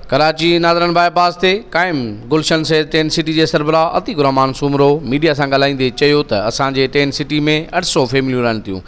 Karachi northern bypass تي قائم گلشن سيد ٽين سٽي جي سربراهه عتيق الرحمان سومرو ميڊيا سان ڳالهائيندي چيو ته اسان جي ٽين سٽي ۾ اٺ سؤ فيمليون رهن ٿيون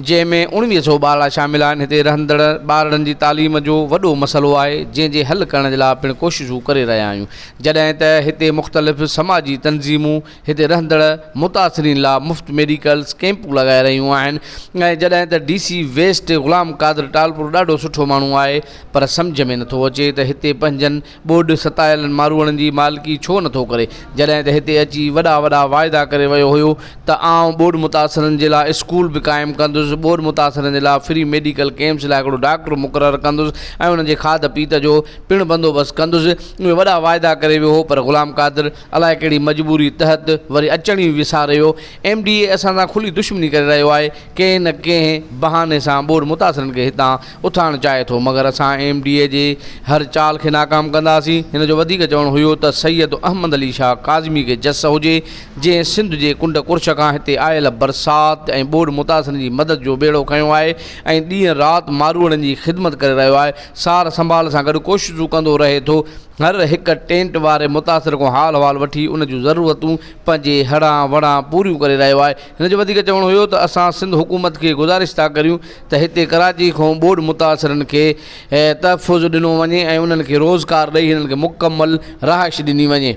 جنهن ۾ اڻويهه سؤ ٻارڙا شامل آهن هتي رهندڙ ٻارڙن جي تعليم جو وڏو مسئلو آهي جنهن جي حل ڪرڻ جي لاء پڻ ڪوششون ڪري رهيا آهيون جڏهن ته هتي مختلف سماجي تنظيمون هتي رهندڙ متاثرين لا مفت ميڊيڪلز ڪيمپ لڳائي رهيون آهن ۽ جڏهن ته D C west Ghulam Qadir Talpur ڏاڍو سٺو ماڻهو آهي پر سمجهه ۾ نٿو اچي ته هتي پنهنجن ٻوڏ ستايلن ماروئڙن جي مالڪي ڇو نٿو ڪري جڏهن ته هتي اچي وڏا وڏا واعدا ڪري ويو هيو ته آئون ٻوڏ متاثرن جي لا اسڪول به قائم ڪندس ٻوڏ متاثرن جي لا فري ميڊيڪل ڪيمپس لا هڪڙو ڊاڪٽر مقرر ڪندس ۽ انهن جي کاڌ پيت جو پڻ بندوبست ڪندس اهي وڏا واعدا ڪري ويو هو پر غلام قادر الائي ڪهڙي مجبوري تحت وري اچڻ ئي وساريو. ايم ڊي اي اسان سان کلي دشمني ڪري رهيو آهي. ڪنهن نه ڪنهن بهاني سان ٻوڏ متاثرن کي هتان اٿارڻ چاهي ٿو مگر اسان ايم ڊي اي جي هر چال کي ناڪام ڪنداسين. هن جو وڌيڪ چوڻ هيو ته سيد احمد علي شاهه ڪاظمي کي جس هجي جنهن سنڌ جي ڪنڊ ڪرش کان هتي آيل برسات ۽ ٻوڏ متاثرن جي مدد جو ٻيڙو کنيو آهي ۽ ڏينهن رات ماروئڙن جي خدمت ڪري رهيو آهي. سار سنڀال سان گڏ ڪوششون ڪندو رهي ٿو. هر هڪ ٽينٽ واري متاثر کان حال احوال وٺي ان جون ضرورتون پنهنجي هڙان وڙان پوريون ڪري رهيو آهي هن جو وڌيڪ چوڻ هيو ته اسان سنڌ حڪومت کي گذارش ٿا ڪريون ته هتي ڪراچي کان ٻوڏ متاثرن کي تحفظ ڏنو وڃي ۽ انهن کي روزگار ڏئي هنن کي مڪمل رهائش ڏني وڃي.